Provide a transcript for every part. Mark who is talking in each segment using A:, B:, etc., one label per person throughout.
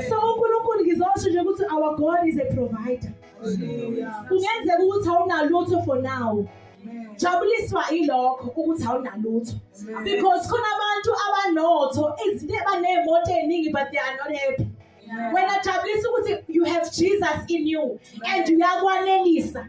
A: so unkulunkulu ngizosho nje ukuthi our god is a provider kungenzeka ukuthi awunalutho for now jabuliswa ilokho ukuthi awunalutho because khona abantu abanotho izinto ebaneemoto eningi but they are not happy wena jabulisa ukuthi you have jesus in you and uyakwanelisa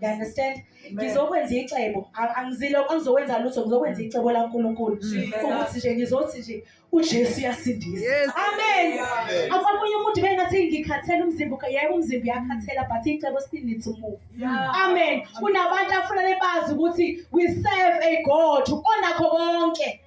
A: You understand? Ngizokwenza icebo. Angizile angizokwenza lutho, ngizokwenza icebo laNkulunkulu. Ukuthi nje ngizothi nje uJesu uyasindisa. Amen. Akwamunye umuntu bengathi ngikhathela umzimba, yebo umzimba uyakhathela but icebo still needs to move. Amen. Kunabantu afuna lebazi ukuthi we serve a God onakho konke.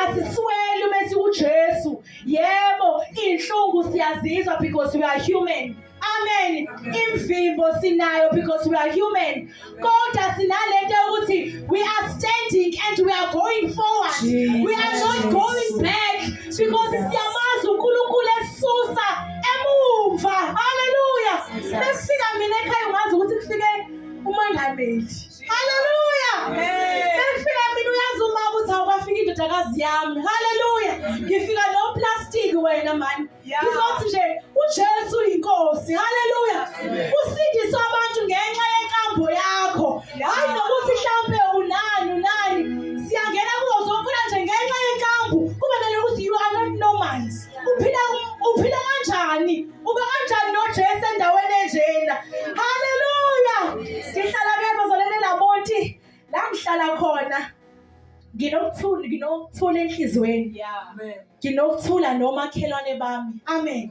A: Asisweli uma siwuJesu. Yebo, inhlungu siyazizwa because we are human. Amen. Imvimbo sinayo because we are human. Kodwa sinalento ukuthi we are standing and we are going forward. Jesus. We are not going back because siyamazi uNkulunkulu esusa emumva. Hallelujah. Besifika mina ekhaya ungazi ukuthi kufike umangameli. Hallelujah. Besifika mina uyazi uma ukuthi awukafiki indodakazi yami. Hallelujah. Ngifika no plastic wena mani. ngizothi nje uJesu uyinkosi haleluya usindiswa abantu ngenxa yenkambo yakho hayi nokuthi mhlambe unani unani siyangena kuzo zonke nje ngenxa yenkambo kube nale ukuthi you are not normal uphila uphila kanjani uba kanjani noJesu endaweni enjena haleluya sihlala ke bazalene lamonti la ngihlala khona nginokuthula nginokuthula enhlizweni yami nginokuthula nomakhelwane bami amen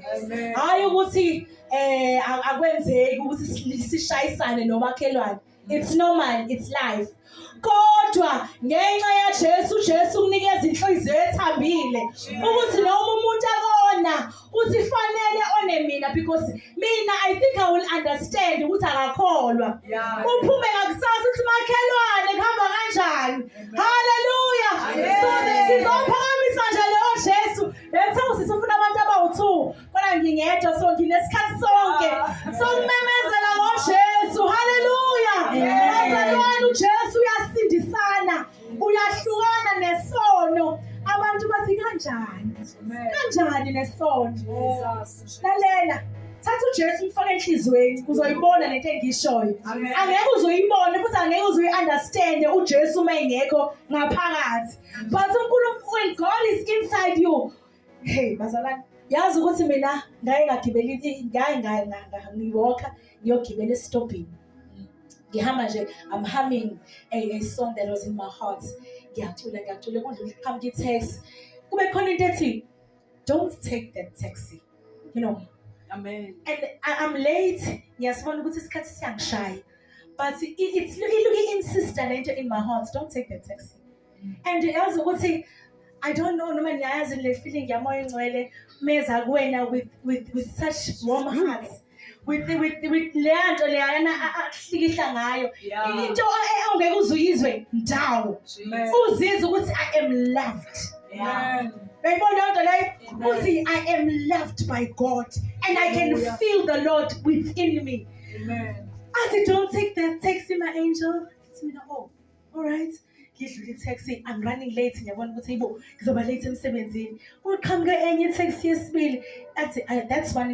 A: hayi ukuthi eh akwenzeki ukuthi sishayisane nomakhelwane it's normal it's life kodwa ngenxa yaJesu uJesu unikeza inhliziyo ethambile ukuthi noma umuntu akona uthi fanele one mina because mina i think i will understand ukuthi akakholwa uphume ngakusasa uthi makhelwane kuhamba kanjani haleluya so sizophakamisa nje leyo jesu letha usisi ufuna abantu abawu-two kodwa ngingedwa so nginesikhathi sonke so kumemezela ngojesu haleluya bazalwane ujesu uyasindisana uyahlukana nesono abantu bathi kanjani kanjani nesono lalela thatha uJesu umfake enhlizweni uzoyibona lento engishoyo angeke uzoyibona futhi angeke uzoyi-understand uJesu uma engekho ngaphakathi but uNkulunkulu God is inside you Hey bazalwane, yazi ukuthi mina ngaye ngagibela ngaye ngaye ngiwalka ngiyogibela esitobhini. Ngihamba nje I'm humming a, a song that was in my heart. Ngiyacula ngiyacula kudlula iqhamuka i-taxi. Kube khona into ethi don't take that taxi. You know. Amen. And I,
B: I'm
A: late. Ngiyasibona ukuthi isikhathi siyangishaya. But it, it's, it, it insists lento in my heart, don't take that taxi. and yazi ukuthi I don't know noma niyayazi le feeling yamoya engcwele meza kuwena with with with such warm hearts with with with leya nto leyana akuhlikihla ngayo Yeah. into e- ongeke uze uyizwe ndawo Amen. uzizwa ukuthi I am loved Amen. uyayibona leyo nto leyo Amen. uthi I am loved by God and I can Hallelujah. feel the Lord within me Amen. as I don't take that takes me my angel it's me oh Alright. Ngidlula i-taxi, I'm running late ngiyabona ukuthi yibo ngizoba late emsebenzini. Kuqhamuke enye i-taxi yesibili athi "Ah, that's one is